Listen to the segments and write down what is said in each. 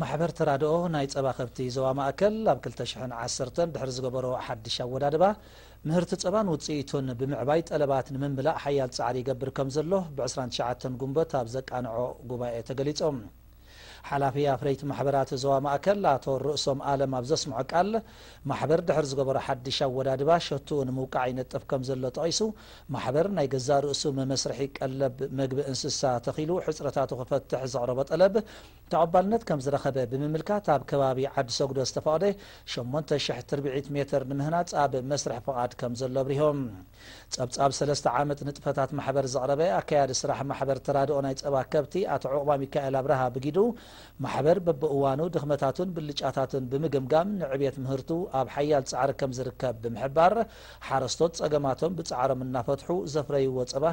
ማሕበር ተራድኦ ናይ ጸባ ከብቲ ዞባ ማእከል ኣብ ክልተ ሽሕን ዓሰርተን ድሕሪ ዝገበሮ ሓድሽ ኣወዳድባ፣ ምህርቲ ጸባን ውጽኢቱን ብምዕባይ ጠለባት ንምምላእ ሓያል ጻዕሪ ይገብር ከምዘሎ ብ ዕስራን ትሽዓተን ጉንበት ኣብ ዘቃንዖ ጉባኤ ተገሊጹ። ሓላፊ ኣፍረይቲ ማሕበራት ዞባ ማእከል ኣቶ ርእሶም ኣለም ኣብ ዘስምዖ ቃል፣ ማሕበር ድሕሪ ዝገበሮ ሓድሽ ኣወዳድባ ሸትኡ ንምውቃዕ ይነጥፍ ከምዘሎ ጠቒሱ፣ ማሕበር ናይ ገዛእ ርእሱ መመስርሒ ቀለብ መግቢ እንስሳ ተኺሉ ሕጽረታቱ ክፈትሕ ዘቕረቦ ጠለብ ተቐባልነት ከምዝረኸበ ብምምልካት ኣብ ከባቢ ዓዲ ሰጉዶ ዝተፈቕደ ሸሞንተ ሽሕ ትርብዒት ሜትር ንምህናጽ ኣብ መስርሕ ፍቓድ ከምዘሎ ኣብሪሆም። ጸብጻብ ሰለስተ ዓመት ንጥፈታት ማሕበር ዘቕረበ ኣካያዲ ስራሕ ማሕበር ተራድኦ ናይ ጸባ ከብቲ ኣቶ ዑቕባሚካኤል ኣብርሃ ብጊዱ፣ ማሕበር በብእዋኑ ድኽመታቱን ብልጫታቱን ብምግምጋም ንዕቤት ምህርቱ ኣብ ሓያል ጻዕሪ ከምዝርከብ ብምሕባር፣ ሓረስቶት ጸገማቶም ብጻዕሮም እናፈትሑ ዘፍረይዎ ጸባ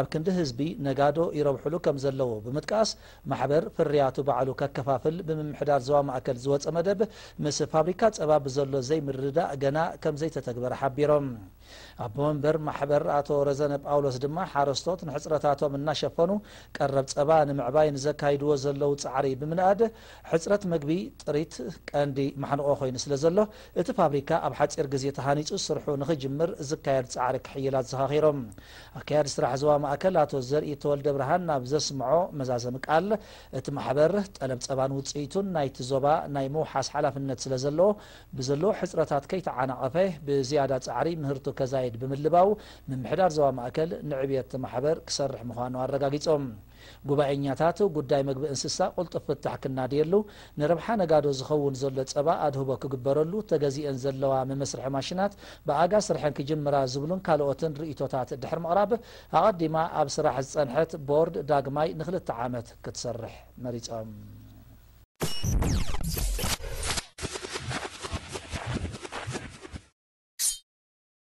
ኣብ ክንዲ ህዝቢ ነጋዶ ይረብሑሉ ከም ዘለዉ ብምጥቃስ፣ ማሕበር ፍርያቱ ባዕሉ ከከፋፍል ብምምሕዳር ዞባ ማእከል ዝወጸ መደብ ምስ ፋብሪካ ጸባ ብዘሎ ዘይምርድዳእ ገና ከም ዘይተተግበረ ሓቢሮም። ኣቦ መንበር ማሕበር ኣቶ ረዘነ ጳውሎስ ድማ ሓረስቶት ንሕጽረታቶም እናሸፈኑ ቀረብ ጸባ ንምዕባይ ንዘካይድዎ ዘለዉ ጻዕሪ ብምንኣድ ሕጽረት መግቢ፣ ጥሪት፣ ቀንዲ ማሕንቖ ኮይኑ ስለ ዘሎ እቲ ፋብሪካ ኣብ ሓጺር ግዜ ተሃኒጹ ስርሑ ንኽጅምር ዝካየድ ጻዕሪ ክሕይል ኣዘኻኺሮም። ኣካያዲ ስራሕ ዞባ ማእከል ኣቶ ዘርኢ ተወልደብርሃን ኣብ ዘስምዖ መዛዘሚ ቃል፣ እቲ ማሕበር፣ ጠለብ ጸባን ውጽኢቱን ናይቲ ዞባ ናይ ምውሓስ ሓላፍነት ስለዘለዎ፣ ብዘለዎ ሕጽረታት ከይተዓናቐፈ ብዝያዳ ጻዕሪ ምህርቱ ከዛይድ ብምልባው፣ ምምሕዳር ዞባ ማእከል ንዕብየት'ቲ ማሕበር ክሰርሕ ምዃኑ ኣረጋጊጾም። ጉባኤኛታት፣ ጉዳይ መግቢ እንስሳ ቁልጡፍ ፍታሕ ክናድየሉ፣ ንረብሓ ነጋዶ ዝኸውን ዘሎ ጸባ ኣድህቦ ክግበረሉ፣ ተገዚኤን ዘለዋ መመስርሒ ማሽናት ብኣጋ ስርሐን ክጅምራ ዝብሉን ካልኦትን ርእይቶታት ድሕሪ ምቕራብ፣ ኣቐዲማ ኣብ ስራሕ ዝጸንሐት ቦርድ ዳግማይ ንክልተ ዓመት ክትሰርሕ መሪጾም።